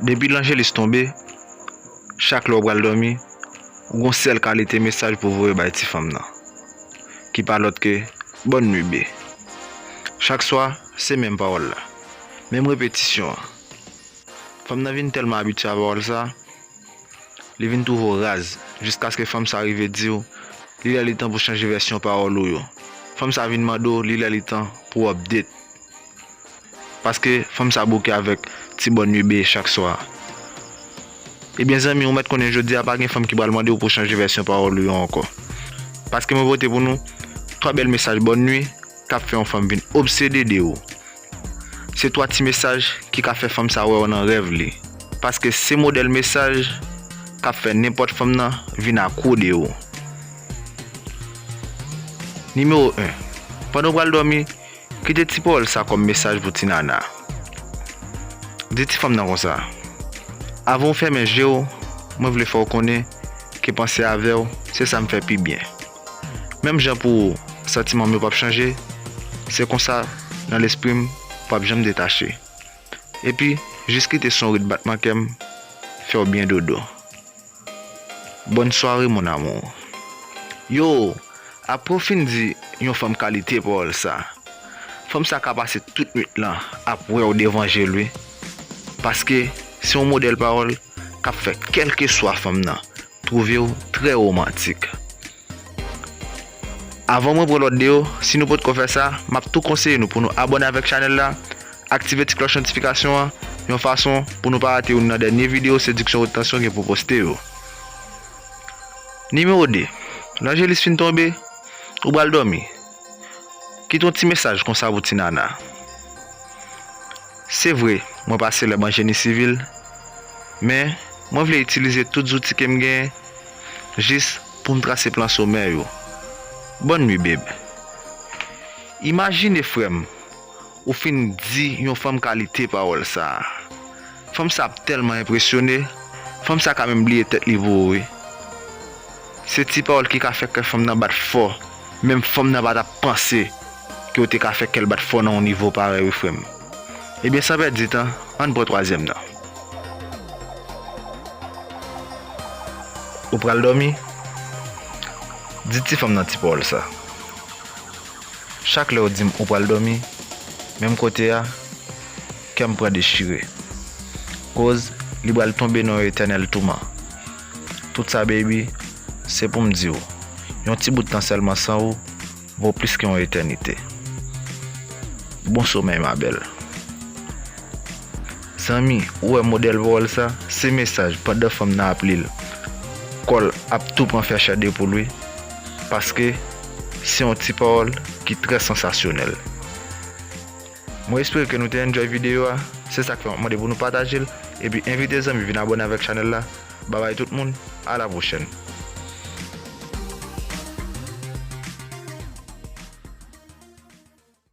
Depi lanjelis tonbe, chak lè ou pral dòmi, ou gon sèl kalite mesaj pou voye bay ti fanm nan, ki pa lòt ke Bòn nwi bby. Chak swa, se menm pawòl la, menm repetisyon an. Fanm nan vin tèlman abitye a pawòl sa, li vin twouve ou raz, jiskaske fanm sa rive di ou li lè li tan pou chanje vèsyon pawòl ou yo. Fanm sa vin mande ou li lè li tan pou w update. Paske fanm sa bouke avèk ti bòn ui bee chak swa. Ebyen zanmi ou mèt konnen jodi a pa gen fanm ki pral mandew pou chanje vèsyon pawòl ou yo ankò. Paske mwen pote pou nou 3 bèl mesaj bòn ui kap fè yon fanm vin obsede de ou. Se 3 ti mesaj ki ka fè fanm sa wèw nan rèv li. Paske se modèl mesaj kap fè nenpòt fanm nan vin akwo de ou. Nimewo 1, Pandan ou pral dòmi, Kite ti pawòl sa kòm mesaj pou ti nana. Di ti fanm nan konsa, Avan ou fèmen je w, mwen vle fè w konnen ke panse avè w se sa m fè pi byen. Menm jan pou ou, santiman m yo p ap chanje, se konsa nan lespri m, w p ap janm detache. Epi jis kite son rit batman kèm fèw byen dodo Bonne soirée mon amour Yoo apre w fin di yon fanm kalite pawòl sa Fanm sa ka pase tout nwit lan ap wèw devan jel wi Paske se yon modèl pawòl kap fè kèlkeswa fanm nan twouvew trè romantik Avan mwen pran lòt 2 yo, si nou potko fè sa, map tou konseye nou pou nou abòne avèk chanèl la, aktive ti klòch notifikasyon an, yon fason pou nou pa rate youn nan dènye video sediksyon wot tansyon gen pou poste yo. Nimewo 2, Lanjelis fin tonbe, ou pral dòmi, kite yon ti mesaj konsa pou ti nana. Se vre, mwen pa selèb an jeni sivil, men mwen vle itilize tout zouti kem gen, jis poum trase plan somè yo Bonne nuit babe Imajine frèm ou fin di yon fanm kalite pawòl sa Fanm sa ap tèlman enpresyone Fanm sa ka menm bliye tèt li pou ou wi Se ti pawòl ki ka fè kè fanm nan bat fò Menm fanm nan pa tap panse ke ou te ka fè kèl bat fò nan yon nivo parèy wi frèm. Ebyen san pèdi tan, ann pran twazyèm nan. Ou pral dòmi? Di ti fanm nan ti pawòl sa. Chak lè ou di m ou pral dòmi, menm kote a, kè m pran dechire. Koz li pral tonbe nan yon etènèl touman. Tout sa baby, se pou m di w, yon ti bout tan sèlman san ou, Bon plis ke yon etènite. Bon somèy ma bèl. Zanmi ou wè modèl pawòl sa se mesaj pandan fanm nan ap lil kòl ap tou pran fè chè de poul wi paske se yon ti pawòl ki trè sansasyonèl. Mwen espere ke nou te enjoy video a, se sak fè map mande pou nou patajel, epi envite zanmi vin abone avèk chanèl la, babay tout moun, a la pwochèn.